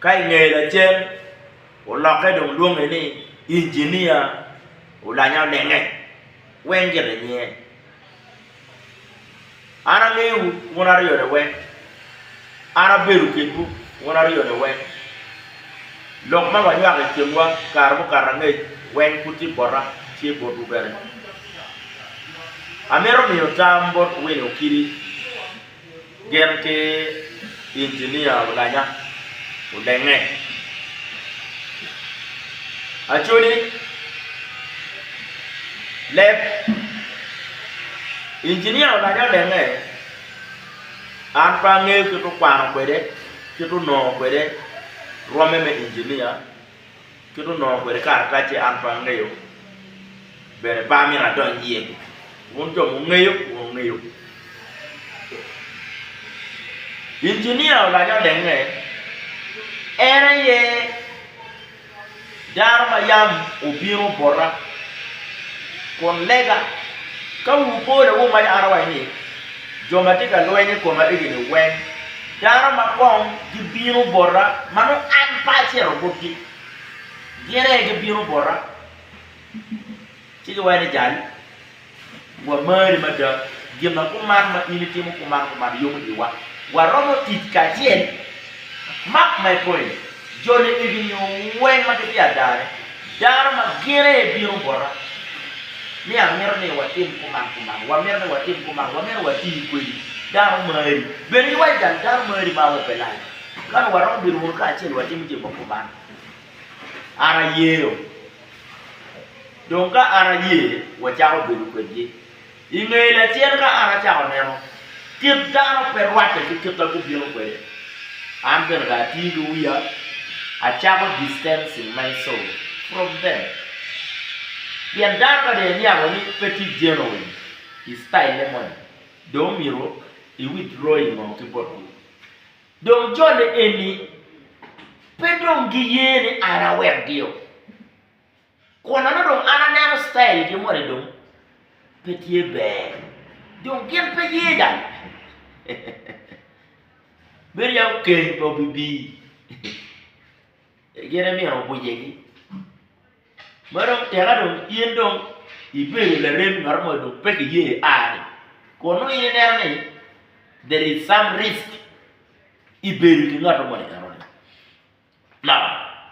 Ka i nge lacen, olokke dong lwonge ni Injinia Olanya Olenge, weng gire nyinge. An angeyo wun aryo ni weng, an abedo kinwu wun aryo ni weng. Lok ma wanywako i kinwa kare mukato angec weng pud tye bota, tye botwu bene. Amito miyo tam bot Winnie Okidi Gin ki injinia olanya olenge. Acholi leb injinia olanya olenge, an pe angeyo kit okwano kwede, kit onongo kwede rwomme me injinia. Kit onongo kwede karatacce an pe angeyo, bene pe amito adony iye. Wun jo mungeyo, wun wungeyo. Injinia olac olenge, en aye dano ma yam obino bota kun lega ka wubola wumaca an awaco ni jo ma tye ka lweny i koma egini weng. Dano ma kong gibino bota ma nongo an pe acito botgi, gin aye gibino bota, ci giwaco ni, Jal, wamari mada, gin ma kuman ma in itimo kuman kuman yomo iwa, waromo tic kacel mak ma ikoyo-ni. Joni igi nyo weng ma gitye adane, dano ma gin aye bino bota ni amito ni watim kuman kuman, wamito ni watim kuman, wamito wati kwedi dano mari, bene in wa igang dano mari ma amope lani, kano waromo bedo wunu kacel watimo jami ma kuman. An aye-o. Dong ka an aye, wacako bedo kwedgi. I nge lacen ka an acako neno kit dano pe rwacce ki kit ma gubino kwede, an bene dong atii ki wiya, acako distancing myself from them. Pien dano ka dong iniango ni pe tye genuine i style-le moni, dong omyero i withdraw i ngo ki botgi. Dong jo ni eni pe dong giye ni an awekgio. Kun nongo dong an aneno citailgi moni dong pe tye ber, dong gin pe ye dok bedo ya okeny pe obibii, gin imino obwicegi. Ma dong tika dong in dong ibedo laremi ngat mo dong pe kiye a-ni, kun nongo in ineno ni there is some risk i bedo ki ngat moni enoni. La,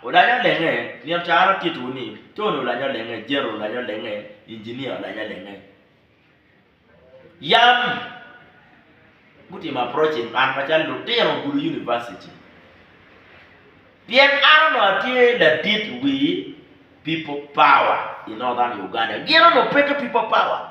olanyo olenge, nino ca an atittiwu ni, Tony olanyo olenge, General olanyo olenge, Engineer olanyo olenge. Yam gutimo approaching an macalo lutino gudo University. Pien an onongo atye ladit wi People Power i Northern Uganda. Gin onongo pe ki People Power.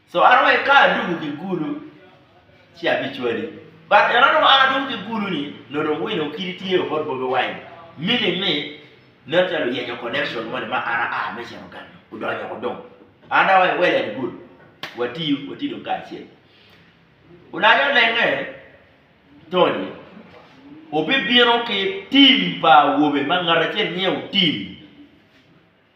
So an onongo eka adwogo ki kulu, ci abicwadi. But eno onongo an adwogo ki kulu-ni, nongo dong wino kidi tye o bot Bobi Wine. Meaning ni, nen calo oyenyo connection moni ma an aa me cito gang-nyu, odonyo woko dong. An dong awaci well and good, watiyu, wati dong kacel. Olanyo lenge, Tony, obibino ki team pa awobe ma ngat acel nyinge Otim.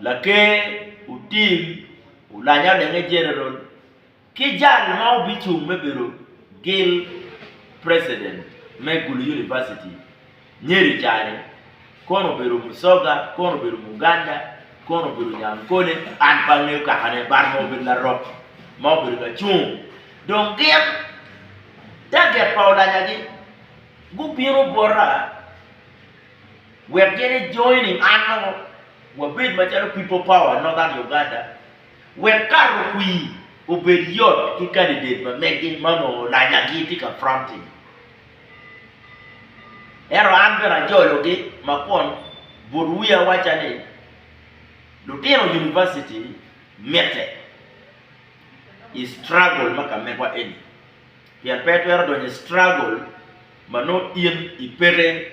Laker otim olanya odenge General ki jal ma obicung me bedo gil President me Gulu University Nyeri cani kono obedo Musoga, kono obedo Muganda, kono obedo Nyankole an pe angeyo kaka ne but nongo obedo Larok ma obedo ka cung dong gin target pa olanya gi gubino bota. Wek gin i joining an nongo wabed macalo People Power Northern Uganda wek kato kwir obed yot ki kandidet ma mege ma onongo lanyagi tye ka fronting. Ento an bene ajologi ma kun but wiya awacca ni lutino University mitte i struggle ma ka mekwa eni pien pe itwero donyo i struggle ma nongo in ipeke.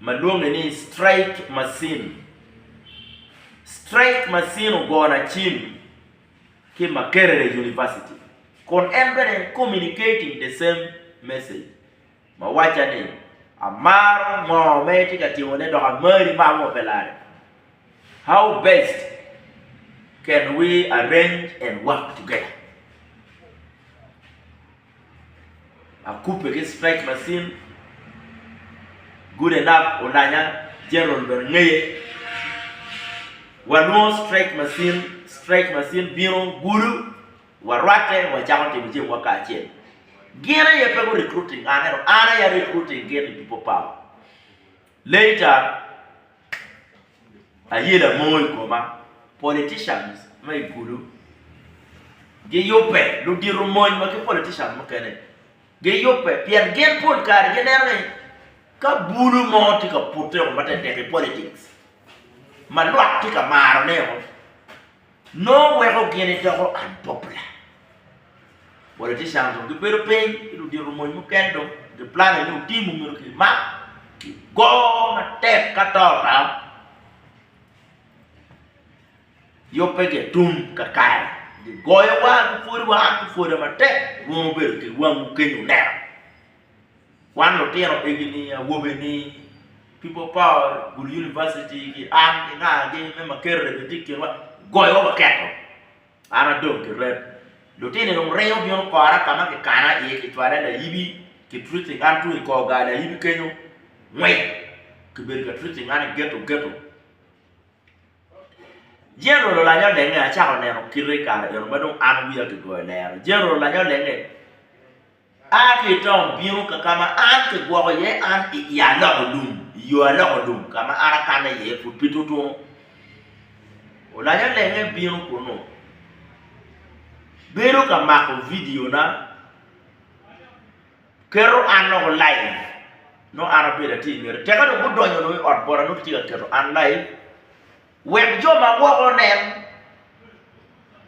ma lwonge ni straight macin, straight macin ogona cim ki Makerere University kun en bene communicating the same message ma wacca ni amaro ngo ma itye ka timo ne dok amari ma ango pe lare how best can we arrange and work together. Akubbe ki stretch macin, good enough olanya, general bene ngeye. Walwongo stretch macin, stretch macin bino gudo, warwatte wacako timo cem wa kacel. Gin aye pe gu recruiting an ento an aye a recruiting gin i people power. Later, aye lamoo i koma, politicians ma i kulu giyubbe, ludito mony wa ki politicians mukene giyubbe pien gin pol kare gineno ni ka bulu mo tye ka pute ma tek tek i politics ma lwak tye ka marone. Nongo weko gin idoko unpopular. Politicians dong gibedo piny ki ludito mony mukene dong gi plane ni otim omyero ki mak ki go matek ka to ta yubbe gi atum kakare gi goyo wa gi pwodi wa an ki pwoda matek rwomo bedo ki wangu kenyo neno. Wan lutino egini awobe ni people power gulu university ki an ki nga gi me makete bene tye i kinwa goyo wa waketo an adong ki rep lutino ni dong ringo bino kora ka ma kikana iye ki cwala layibi ki treating an tung i kor gar layibi kenyo ngwec ki bedo ka treating an i geto geto general olanyo lenge acako neno kite i kare eno ma dong an wiya ki goyo lero general olanyo lenge A ki i tong bino ka ka ma an kigwoko iye an i i aloko lum, i yo aloko lum ka ma an akanne iye pud pi tutunu. Olanya lenge bino kunnu, bedo ka mako vidiona, keto an loko laib, nongo an abedo atye i ngete. Tika dong gudonyo dong i ot bota nongo kitye ka keto an laib. Wek jo ma woko onen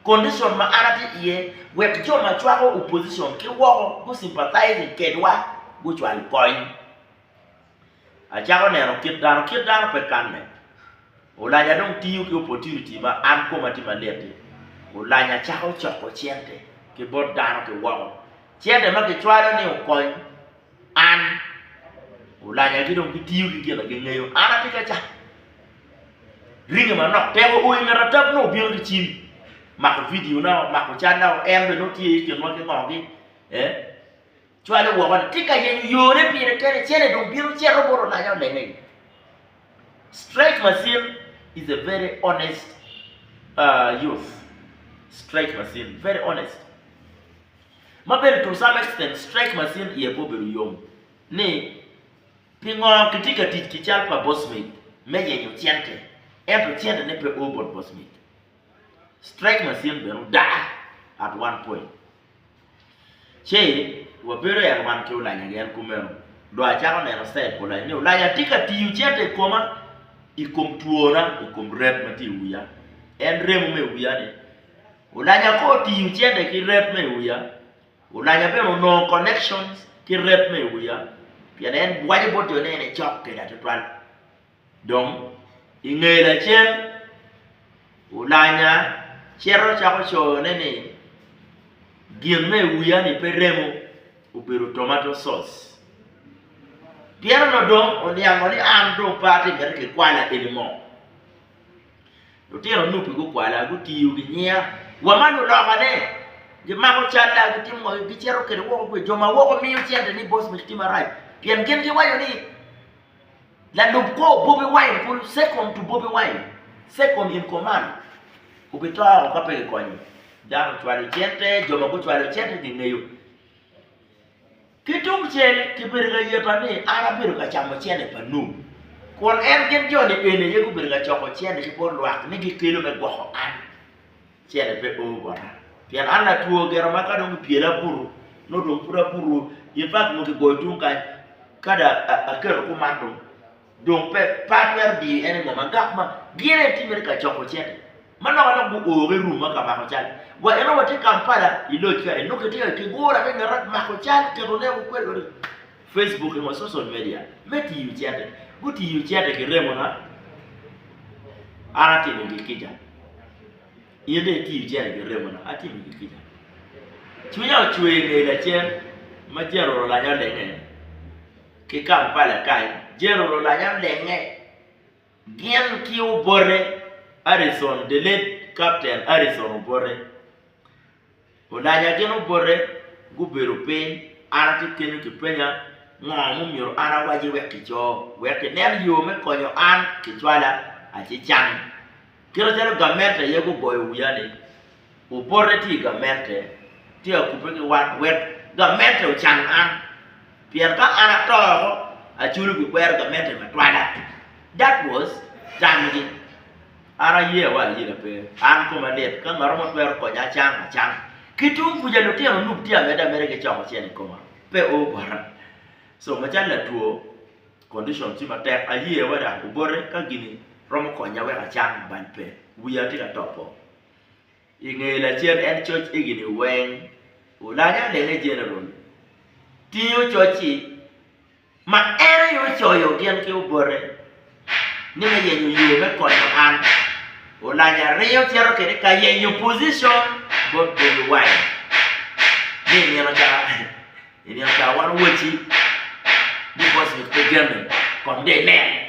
kondicon ma an atye iye, wek jo ma cwako opposition ki woko gu-sympathizing kedwa gucwal kony. Acako neno kit dano, kit dano pe kanne. Olanya dong tiyo ki opportunity ma an koma tye malit-ti. Olanya cako coko cente ki bot dano ki woko, cente ma kicwalo ni okony. An, olaca ki dong gitiyo ki gin ma gingeyo, an atye ki aca. Ringe manok teko o i nget atap nongo bino ki cim, mako vidiona, mako cadda, en bene nongo tye i kinwa ki ngogi, cwale woko ni tye ka yenyo yone pire kene, cente dong bino cito bot olaca olenge iye. Straight macin is a very honest youth, straight macin, very honest. ma bene to some extent stretch my sin iye pe obedo yom, ni, Pingo kitye ka tic ki cal pa Bosmith me yenyo cente, ento centene pe o bot Bosmith? Stretch my sin bene odaa at one point. Ci wabedo at one ki Olanya gen kumeno, dong acako neno side pa Olanya ni Olanya tye ka tiyo cente i koma, i kom twona, i kom rem ma tye i wiya. En remo me wiya ni. Olanya kong otingo cente ki ret ma i wiya, olanya bene onongo connections ki ret ma i wiya pien en bwaco bot jo ni en ecok keda tutwal. Dong i nge lacen, olanya cito cako coyone ni gin ma i wiya ni pe remo, obedo tomato sauce. Pien onongo dong oniango ni an dong pe atye miti kikwala anymore. Lutino anupi gukwala, gutiyo ginyiya, wa ma lulokane, gimako calla, gitimo wanggi, gicito kwede woko kwi jo ma woko miyo cente ni boss me citima rac, pien gin giwaco ni lalub kor Bobi Wine kulu, second to Bobi Wine, second in command obito woko ka pe gikonye. Dano ocwalo cente, jo ma gucwalo cente gingeyo. Ki tungcel, kibedo ka yeta ni an abedo ka camo cente pa Nup, kun en gin joni eni aye gubedo ka coko cente ki bot lwak ni gikelo me gwoko an. Cente pe oo bota, pien an latwo gire ma ka dong gipyela abutu, nongo dong pud abutu, infact nongo kigoyo tung kany ka dong aketo kuman dong. Dong pe patwero diri en i ngoma dok ma gire en timmere ka coko cente ma lok alok guoo ki rum ma ka mako cal wa eno watye Kampala i loc kare nongo kitye ka kigura ki ngete mako cal keto ne kikwedo kwede Facebook ki ngo social media me tiyo cente gutiyo cente ki remo na an atimo gi kica in dong itiyo cente ki remo na atimo gi kica cwinya ocwer inge lacen ma cen oro lanya olenge. ki Kampala kany, Jane Ololanya Lenge, gin ki obote Harrison, the late Captain Harrison Obote Olanya gin obote gubedo piny, an atye kenyo kipenya ngo ma omyero an awaci wek kico, wek kinen yo me konyo an kicwala acicang. Kit macalo gamente aye gugoyo wiya ni. Opote tye i gamente, ci akubbe ki wat wek gamente ocang an, pien ka an ato woko, aculo pi kwero gamente me twala. That was tamgi. An aye wa ayega pe, an koma lit ka ngat mo twero konya acang, acang. Ki tung kuca lutino onub tye ameda mere gicoko cen i koma, pe o bota. So macalo latwo, condition tye matek, aye wa dok obote ka gini romo konya wek acang bany pe, wiya tye ka topo. I nge lacen en coc higini weng, Ulanya Lene General tingo coc-ci ma en aye ocoyo gin ki obote ni me yenyo yo me konyo an. Ulanya ringo cito kede ka yenyo pocicon bot Bobi Wine ni i nino ca i nino ca wan owaci ni Boswig pe jami kong dong inene.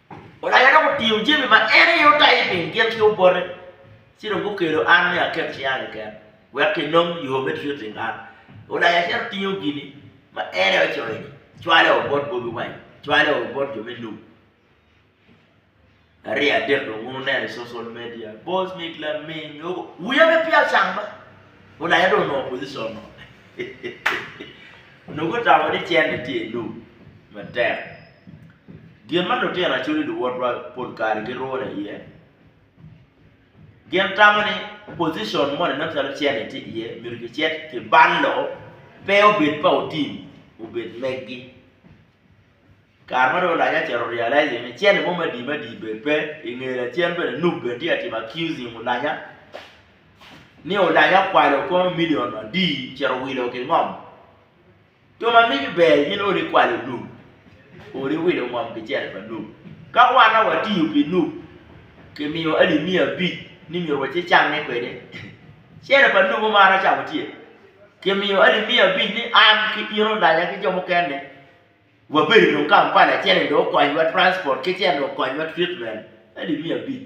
Olaya dok otingo jami ma en aye otayo i piny gin ki obote, ci dong gukelo an ni aket cinga keken, wek enong yo me tic oteng an. Olaya cito tingo gin ma en aye ocoyo-ni, cwale o bot Bobi Wine, cwale o bot jo me Nup, arye adek dong wun wuneno i social media, Bosmic Laming, wiya pe peya ocang ma, Olaya dong onongo position-nu, nongo otamo ni cente tye i Nup matek. Gin ma lutino acoli luwotwa pol kare girune iye, gin tamo ni pocicon moni nongo calo cene tye iye myero kicit kibalo pe obed pa otim obed megi. Kare ma dong olac aye ocito realize ni cene mo me adi me adi bene pe, i nge lacen bene nup bene tye ka timo accusing olanya ni olanya okwalo kono milion adi ocito owilo ki ngom. Jo ma migi ber gin odi kwalo lum, odi wilo ngom kicel pa lum. Ka wan a watiyo pi lum, kimiyo alip miya abic ni myero waci cange kwede, cel pa lum omaro camo tye, kimiyo alip miya abic ni an ki in olanya ki jo mukene wabedo dong Kampala cene dong okonywa transport ki cene dong okonywa treatment alip miya abic.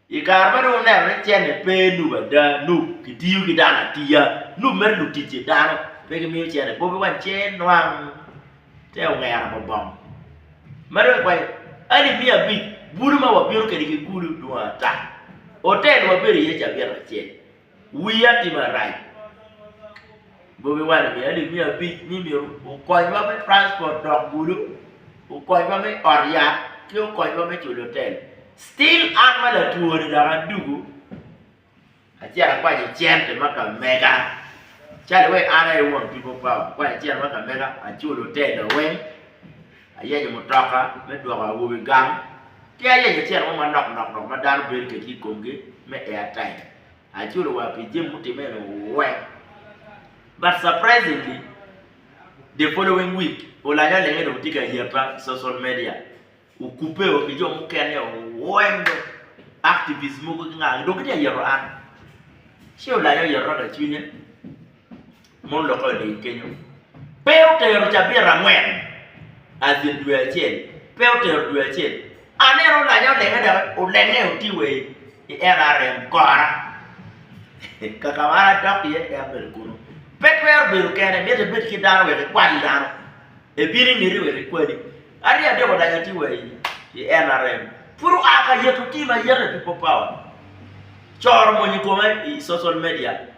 I kare ma dong wuneno ni cente pe nup ada, nup kitiyo ki dano atiya, nup mere luticce dano pe gimiyo cente bobi wany ce nwang te ongera ma bong. Ma dong ikwanyo alip miya abic bulu ma wabino kwede ki kulu dwong ata, otel wabedo iye cabit acel Wiya tye marac Bobi Wine omiyo alip miya abic ni myero okonywa me transport dok Gulu, okonywa me ot yat ki okonywa me culo otel. Still an ma latwo ni dok aduku acito akwanyo cente ma ka mega calo iwaci an aye won People Power akwanyo cente ma ka mega aculo otel na weng. Ayenyo mutoka me dwoko awobe gang, ki ayenyo cen mo ma lok lok dok ma dano bedo kwedgi i komgi me airtime. Aculo wa pi jami mutimme eni weng. But surprisingly, the following week, olanyo alenga dong tye ka yabba i social media. Okubbe o ki jo mukene o weng dong, activists mogo ki nga dong gitye ka yero an. Ci olanyo oyerra ka i cwinye. ma olokke oling kenyo pe otero cabit angwen as in dwe acel pe otero dwe acel aneno olanye olenge dok olenge aye otii wa i NRM kora kaka ma an adok iye eka abedo kunu pe twero bedo kene myero ibed ki dano wek ikwal dano ebin ingete wek ikwali aryo adek olanye atii wa i NRM pud oa ka yito team aye pi power coro mony i kome i social media.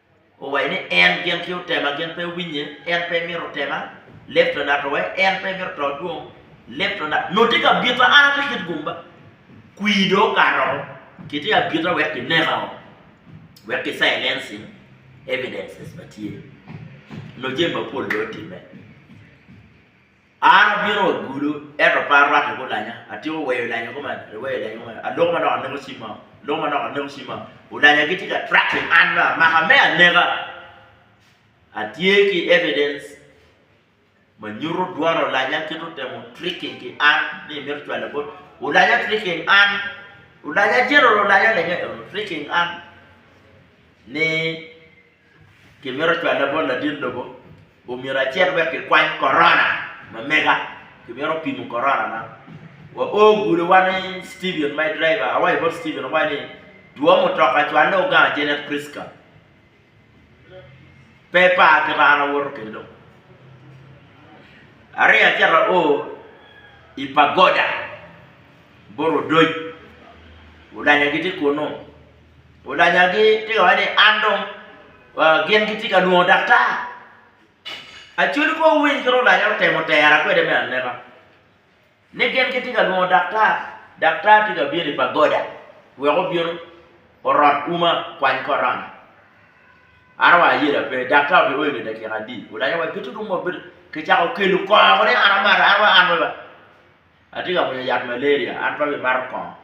Owaco ni, En gin ki otema gin pe winye, en pe mito tema, leb to nato wa, en pe mito to dwong, leb to nato. Nongo tye ka bita an atye kit gumba, kwir dong okato woko, kitye ka bita wek kineka woko, wek ki silencing evidences ma tye, nongo jami mapol dong otimme. An abino wa gudo, ento pe arwate gulanya, atyeko weyo lanyo koma, aweyo lanyo koma, aloko ma dok aneko cim mao, aloko ma dok aneko cim mao, gulanya gitye ka tracking an me amaka, me aneka. Atye ki evidence ma nyuto dwan olanya kit otemo tricking ki an ni mito cwalo bot, olanya tricking an, olanya general olanya lenge, tricking an ni. Kimito cwalle bot ladit lobo, omyero acit wek kikwany korona ma mega, kimito pimo korona man. Wa o gudowa ni Steven my driver, awaco bot Steven awaco ni two mutoka cwalle o gang Janet Prisca, pe par kita an awoto kede dong. Aringo acito ao i pagoda bot odoc, olanya gitye kunu. olanyagi tye ka waco ni an dong gin gitye ka lwongo daktar. Acholi kong owiny kit ma olanyere otemo tera kwede me aneka ni gin gitye ka lwongo daktar, daktar tye ka bino i pagoda wek obin orot uma kwany korona. An wa ayelo aye pe daktar obino oyo nge dakika adi olanya wa gitu dong wa bedo kicako kelo kongo ni an amarra an wa an atye ka mwinyo yat malaria an pe abimato kongo.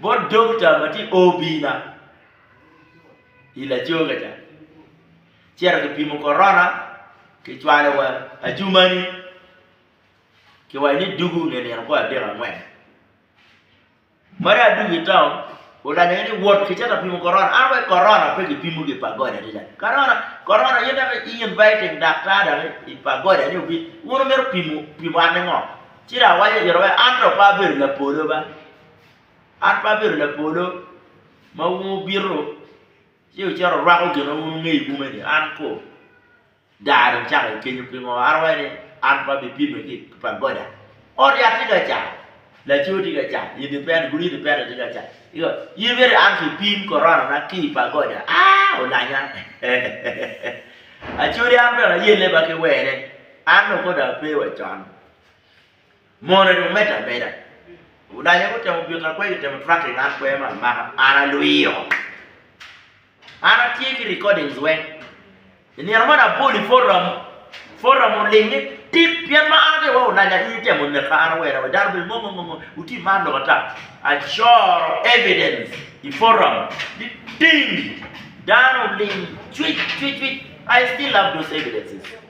Bot dokita ma tye i obina i lacoga ca, cito kipimo korona, kicwalo wa acumani, kiwaco ni dugu nge nino kor adek angwen. Ma dong adwogo i taun, olanya gini ni wot kicito ka pimo korona, an awaco ni korona pe kipimo ki pa gode adada, korona korona in dok i inviting daktar dok i pa gode ni obin, wun wumito pimo an ni ngo? Ci dong awaco i kine wai, 'An dong pe abedo lapolo ba, an pe abedo lapolo ma wun wubito ci wucito wurwako gin ma wun wungeyo i ume-ni. An kur daa dong cako aye kenyo pingo an awaco ni an pe abipimme ki pa goda. Ot yat tye ka car, laco tye ka car, odi pene, gudi odi pene tye ka car. In miti an kipim koronana ki i pa goda? Aa! Olanya! Acodi an bene ayelle ba ki wene, an dong kor dong ape wa con. Mono dong medde ameda. Odanya gutemo bita kwe gitemo tracking an kwe ma amaka an alwiyo. An atye ki recordings weng. I nino man abol i forum, forum oling ni tit pien ma an atye iwaci odanya in itemo neka an awera we dano bed ngo ngo ngo wuti man lok ata. Acoro evidence i forum ni ding dano oling cwic cwic cwic I still have those evidences.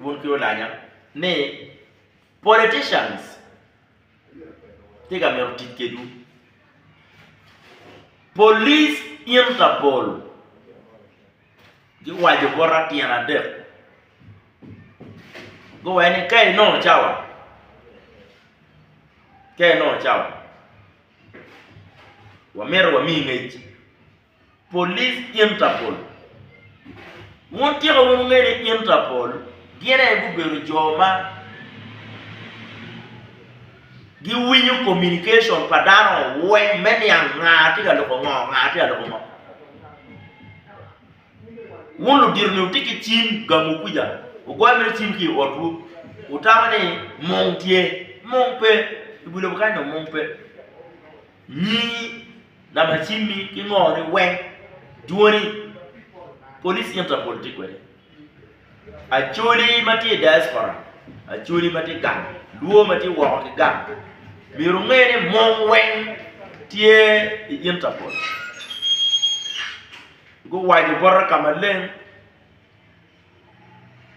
Wun ki olanya ni politicians tye ka mito tic kedwu. Police Interpol giwaco bota tyen adek guwaco ni ka inongo cawa, ka inongo cawa wamito wamiyi ngec. Police Interpol. Wun tika wun wungeyo ni Interpol gin aye gubedo jo ma giwinyo communication pa dano weng me niang nga tye ka loko ngo, nga tye ka loko ngo. Wun ludito ni wutye ki cim gamu kwica, wugoyo mere cim ki i otwu, wutamo ni mung tye, mung pe, i wi lobo kany dong mung pe. Nying lamacimmi ki ngoni weng dwoni Police Interpol tye kwede. Acholi ma tye i diaspora, Acholi ma tye gang, Luo ma tye woko ki gang myero wunge ni mong weng tye i Interpol. Guwaco bota ka maleng.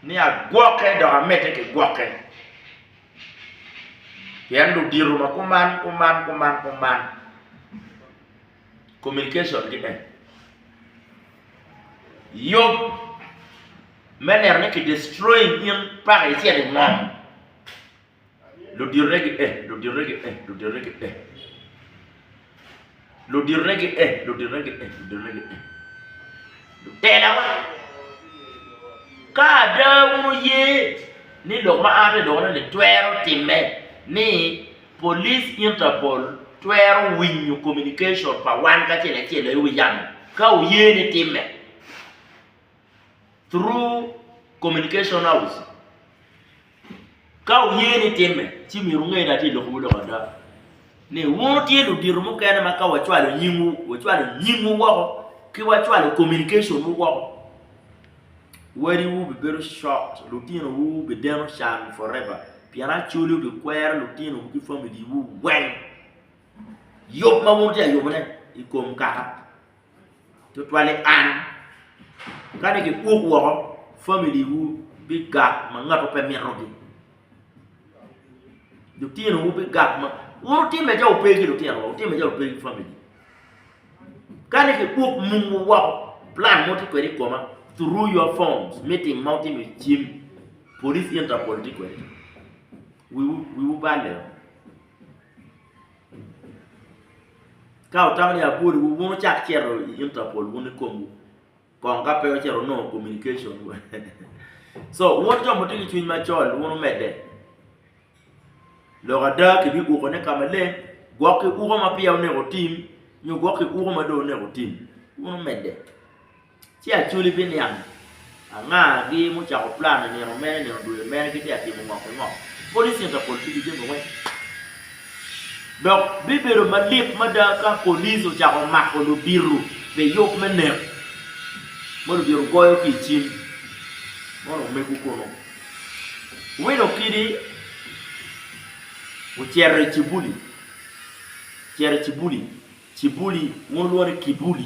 ni agwokke dok amedde ki gwokke, pien ludito ma kuman kuman kuman kuman communication-gi en yub me neno ni ki destroying in paka icito ingom. Ludite gi e, ludite gi e, ludite gi e. Ludite gi e, ludite gi e, ludite gi e. Lutelawa, ka ada wun wuye ni lok ma an alokone-ni twero timme, ni Police Interpol twero winyo communication pa wan kacel acel aye wi yamo, ka wuye ni timme through communication house. Ka wuye ni timme, ci myero wunge ni atye ka lobbiwu lok ada, ni wun tye ludito mukene ma ka wacwalo nyingwu, wacwalo nyingwu woko ki wacwalo communication-wu woko, wadiwu bibedo shocked, lutinowu bideno can forever, pien Acholi obikwero lutinowu ki familiwu weng yub ma wun wutye ka yubone i kom kaka. tutwali an, kadi kiuk woko famili wu bigak ma ngatu pe mito gi, lutino wu bigak ma wun wutimme calo wupe ki lutino wa wutimme calo wupe ki famili kadi ki uk mum wu woko plan mogo tye kwede ikoma through your phone meeting ma wutimo i cim police interpol tye kwede wiwu balle oo. Ka wutamo ni abwoliwu, wun wucak cito i Interpol wun ikomwu kong ka pe ocito wunongo communication. Co wun jo ma wutye ki cwiny macol wun wumedde, lok ada kibiukone ka maleng gwok ki uko ma peya oneko wutim nyo gwok ki uko ma dong oneko wutim wun wumedde. Ci Acholi biniang angagi mucako plan i nino mene, i nino dwe mene gitye ka timo ngo ki ngo. Police Interpol tiyo jami weng. Dok bibedo malit mada ka police ocako mako ludito pi yub me nek ma ludito goyo ki i cim mono omego kunu. Win Okidi ocito i Cibuli, Cibuli, Cibuli, wun olwongo ni Kibuli,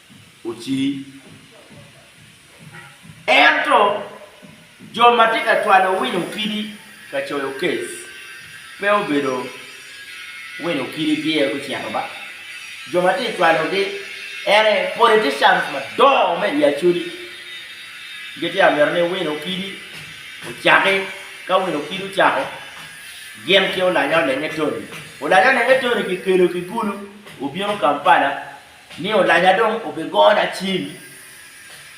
Oci. Ento, jo ma tye ka cwalo winyo kidi ka coyo kes pe obedo winyo kidi pire gucito ba jo ma tye ka cwalogi. En aye politicians madongo me i Acholi gitye ka mito ni winyo kidi ocaki. Ka winyo kidi ocako, gin ki Olanya Olenge Tony, Olanya Olenge Tony kikelo ki Gulu obino Kampala Ni olanya dong obigona cim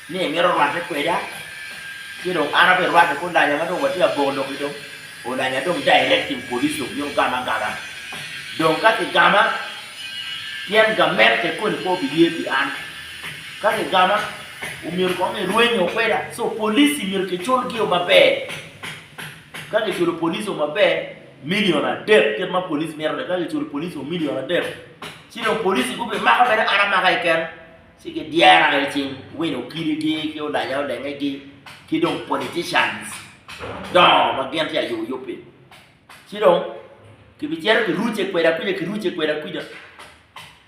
ni emito rwate kweda, ci dong an abirwate ki olanya ma dong watye aboko lok-ki dong, olanya dong directing police obino gama agaga. Dong ka kigama, tyen gamente koni pe obiye pi an. Ka kigama, omyero kong irwenyo kweda, so police myero kiculgi-o maber. Ka kiculo police-o maber, Milion adek kit ma police mito ni ka kiculo police wa milion adek ci dong police gubi mako bene an amaka keken ci gi dyera i cing win okili gi ki olanya olenge gi ki dong politicians dongo ma gin tye ayo yub pi ci dong ki bi cito ki ruce kweda kuca ki ruce kweda kuca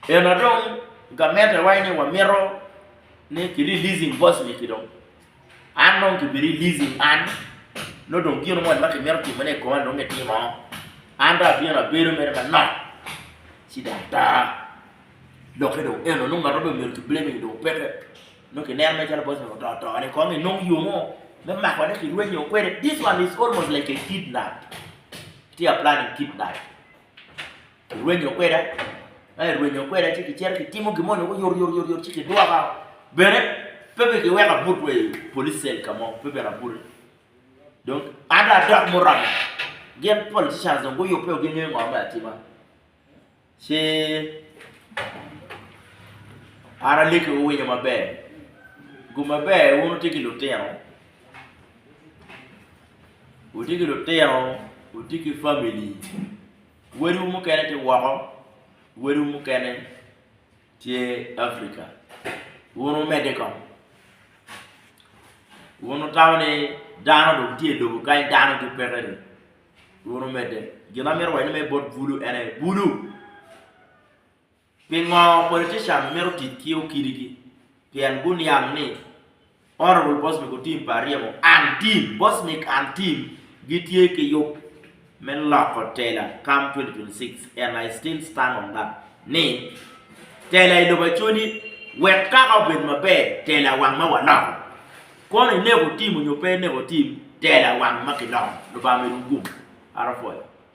ena dong gamente wa ni wa mito ni ki releasing boss ni ki dong An nongo ki bi releasing an nongo dong gino moni ma ki mito timo ne i koma nongo ki timo, an dong abino abedo mere manok ci dong ata, lokke dong eno nongo ngat ma dong omyero ki blaming dong peke, nongo ki neno mere calo bot nongo oto ato ni kong inong yo mo me mako ne ki rwenyo kwede, this one is almost like a kidnap, tye ka planning kidnap. Irwenyo kweda? Ka irwenyo kweda ci kicito kitimo gin mo nongo yoryot ci kidwoka bene pe bene kiweko abut wa i police cell ka mo pe bene abute dong an dong adok muranga gin politicians dong guyubbe wa gingeyo ngo me atima ci an alegi wuwinyo maber gum maber wun wutye ki lutino wutye ki lutino wutye ki family. Wadiwu mukene tye woko, wadiwu mukene tye Africa. Wun wumedde kong. Wun wutamo ni dano dong tye i lobo kany dano ki pekeni. Wun wumedde. Gin ma amito wacone me bot bulu en aye bulu. Pingo Politician mito tic ki okidigi? Pien guniang ni Honourable Bosnick Otim pa Aryemo and Team, Bosnick and Team, gitye ki yub me loko tela come 2026 and I still stand on that ni tela i lobo acwadi wek kaka obed maber tela wang ma waloko kono ineko Team nyo pe ineko Team tela wang ma kiloko. Lubanga omedo wu gum. Araphoyo.